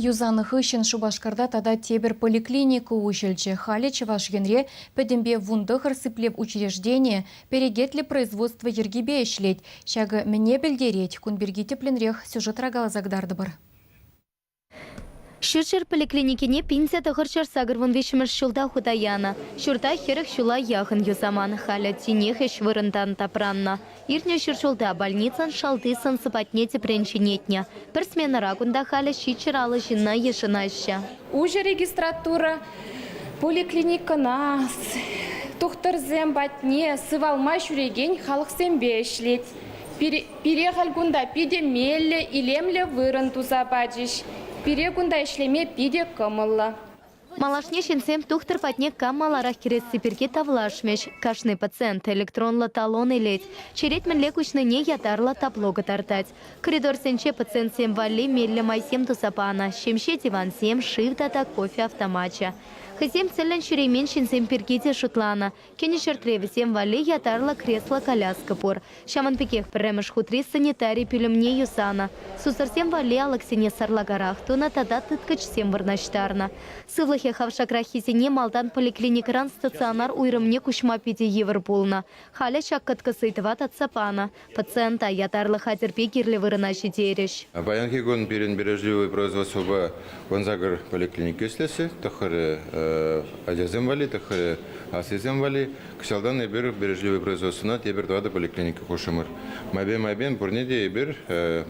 Юсанӑ хыҫҫӑн Шупашкарта тата тепӗр поликлиника уҫӑлчӗ. Халӗ Чӑваш Енре пӗтӗмпе вун тӑхӑр сиплев учрежденийӗ перекетлӗ производство йӗркипе ӗҫлет. Ҫакӑ мӗне пӗлтерет? Кун пирки тӗплӗнрех сюжетра каласа кӑтартӑпӑр. Ҫурҫӗр поликлиникине пинсе тӑхӑрҫӑр сакӑр вун виҫҫӗмӗш ҫулта хута янӑ. Ҫурта хӗрӗх ҫула яхӑн юсаман. Халӗ тинех ӗҫ вырӑнтан тапраннӑ. Иртнӗ ҫур ҫулта больницӑн шалти сӑн-сӑпатне тӗпрен ҫӗнетнӗ. Пӗр сменӑра кунта халӗ ҫичҫӗр алӑ ҫынна йышӑнаҫҫӗ. Уҫӑ регистратура поликлиникӑна тухтӑрсем патне сывалма ҫӳрекен халӑхсемпе ӗҫлет. Пире халь кунта питӗ меллӗ, илемлӗ вырӑн туса пачӗҫ. Пире кунта ӗҫлеме питӗ кӑмӑллӑ. Малашне ҫынсем тухтӑр патне кам маларах кӗресси пирки тавлашмӗҫ. Кашни пациент электронлӑ талон илет, черет мӗнле куҫнине ятарлӑ табло кӑтартать. Коридорсенче пациентсем валли меллӗ майсем туса панӑ, ҫемҫе дивансем, шыв тата кофе автомачӗ. Хӑйсем тӗллӗн ҫӳремен ҫынсем пирки те шутланӑ, Кӗнӗ ҫӗртре вӗсем валли ятарлӑ кресло-коляска пур. Ҫавӑн пекех пӗрремӗш хутри санитари пӳлӗмне юсанӑ, сусӑрсем валли алӑксене сарлакарах тунӑ тата тыткӑчсем вырнаҫтарнӑ. Сывлӑхӗ хавшакраххисене малтан поликлиникӑран стационар уйрӑмне куҫма питӗ йывӑр пулнӑ. Халӗ ҫак кӑткӑс ыйтӑва татса панӑ, Пациента ятарлӑ хатӗрпе кирлӗ вырӑна ҫитерӗҫ. Паянхи кун пирӗн Бережливое производствӑпа вунсакӑр поликлиника ӗҫлесси тӑххӑрӗ, ачасем валли тӑххӑрӗ, аслисем валли. Кӑҫалтан эпир Бережливое производствӑна тепӗр тӑватӑ поликлиника хушрӑмӑр. Майпен-майпен пурне те эпир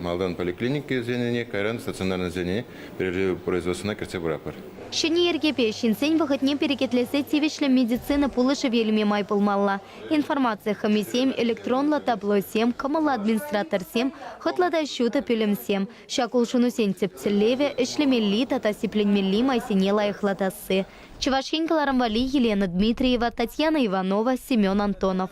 малтан поликлиникӑсене, кайран стационарнӑсене Бережливое производствӑна кӗртсе пыратпӑр. Ҫӗнӗ йӗркепе ҫынсен вӑхӑтне перекетлесе тивӗҫлӗ медицина пулӑшӑвӗ илме май пулмалла. Информаци хӑмисем, электронлӑ таблосем, кӑмӑллӑ администраторсем, хӑтлӑ та ҫутӑ пӳлӗмсем, ҫак улшӑнусен тӗп тӗллевӗ, ӗҫлемелли тата сипленмелли майсене лайӑхлатасси. Чӑваш Ен кӑларӑм валли Елена Дмитриева, Татьяна Иванова, Семен Антонов.